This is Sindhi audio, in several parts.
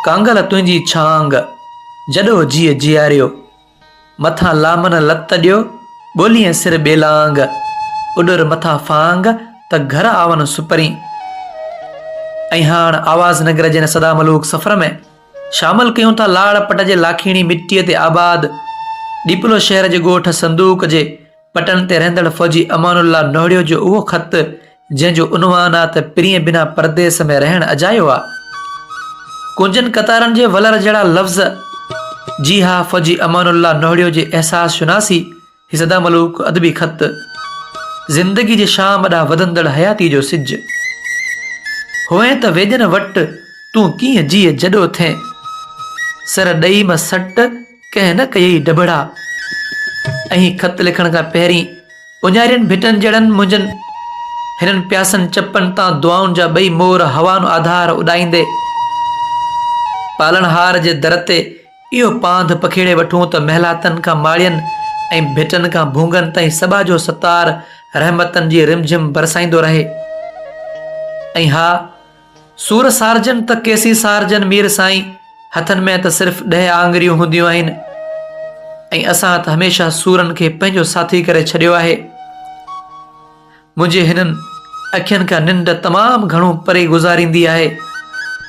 ڪانگل تنهنجي ڇانگ، جڏو جيء جياريو. مٿان لامن لت ڏيو، ڳوليئين سر ٻيلانگ. اڏر مٿا ڦانگ، ته گهر آون سپرين. ۽ هاڻ آواز نگر جي هن سدا ملوڪ سفر ۾ شامل ڪيون ٿا لاڙ پٽ جي لاکيڻي مٽيء تي آباد ڏيپلو شهر جي ڳوٺ صندوق جي پٽن تي رهندڙ فوجي امان الله نوهڙيو جو اهو خط جنهن جو عنوان آ ته پرينء بنا پرديس ۾ رهڻ اجايو آ. ڪونجن قطارن جي ولر جهڙا لفظ جي ها فوجي امان الله نهڙيو جي احساس شناسي هي سدا ملوڪ ادبي خط زندگي جي شام ڏانهن وڌندڙ حياتي جو سج هئين ته ويڄن وٽ تون ڪيئن جيء جڏو ٿين سر ڏئي م سٽ ڪنهن نه ڪيئي ڊڀڙا. ائين خط لکڻ کان پهرين اونهارين ڀٽن جهڙن منهنجن هنن پياسن چپن تان دعائن جا ٻئي مور هوانو آڌار اڏائيندي پالڻهار جي در تي اهو پانڌ پکيڙي وٺون ته محلاتن کان ماڙين ۽ ڀٽن کان ڀونگن تائين سڀا جو ستار رحمتن جي رمجھم برسائيندو رهي ۽ ها سور سارجن ته ڪيسي سارجن مير سائين، هٿن ۾ ته صرف ڏهه آڱريون هونديون آهن ۽ اسان ته هميشه سورن کي پنهنجو ساٿي ڪري ڇڏيو آهي. منهنجي هنن اکين کان ننڊ تمام گهڻو پري گذاريندي آهي.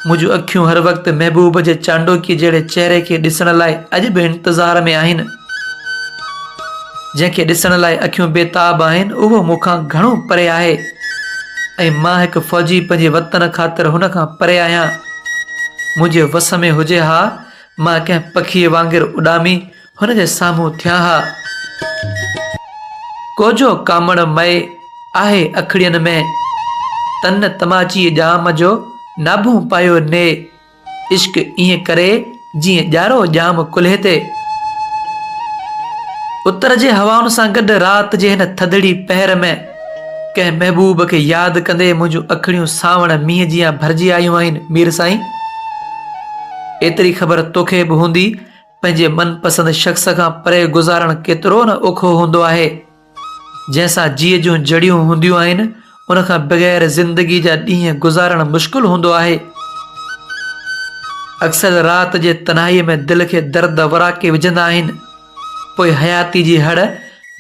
منهنجون اکيون هر وقت محبوب جي چانڊوڪي جهڙي چهري کي ڏسڻ لاء اڄ به انتظار ۾ آهن. جنهن کي ڏسڻ لاء اکيون بيتاب آهن، اهو مون کان گهڻو پري آهي ۽ مان هڪ فوجي پنهنجي وطن خاطر هن کان پري آهيان. منهنجي وس ۾ هجي ها، مان ڪنهن پکيء وانگر اڏامي هن جي سامهون ٿيان ها. ڪوجهو ڪامڻ مئي آهي اکڙين ۾، تن تماچيء ڄام جو ناڀون پايو ني. عشق ائين ڪري جيئن ڄارو ڄام ڪلهي تي. اتر جي هوائن سان گڏ رات جي هن ٿڌڙي پهر ۾ ڪنهن محبوب کي ياد ڪندي منهنجون اکڙيون سانوڻ مينهن جيان ڀرجي آيون آهن مير سائين! ايتري خبر توکي به هوندي پنهنجي من پسند شخص کان پري گذارڻ ڪيترو نه اوکو هوندو آهي. جنهن سان جيء جون جڙيون هونديون آهن، ان کان بغير زندگي جا ڏينهن گذارڻ مشڪل هوندو آهي. اڪثر رات جي تنهائيء ۾ دل کي درد وراڪي وجهندا آهن، پوء حياتي جي هڙ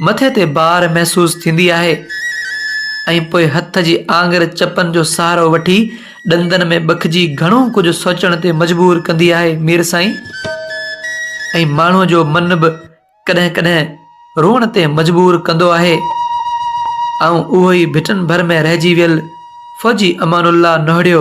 مٿي تي بار محسوس ٿيندي آهي ۽ پوء هٿ جي آڱر چپن جو سهارو وٺي ڏندن ۾ ٻکجي گهڻو ڪجهه سوچڻ تي مجبور ڪندي آهي مير سائين ۽ ماڻهوء جو من به ڪڏهن ڪڏهن روئڻ تي مجبور ڪندو آهي. آئون اهو ئي ڀٽن ڀر ۾ رهجي ويل فوجي امان الله نهڙيو.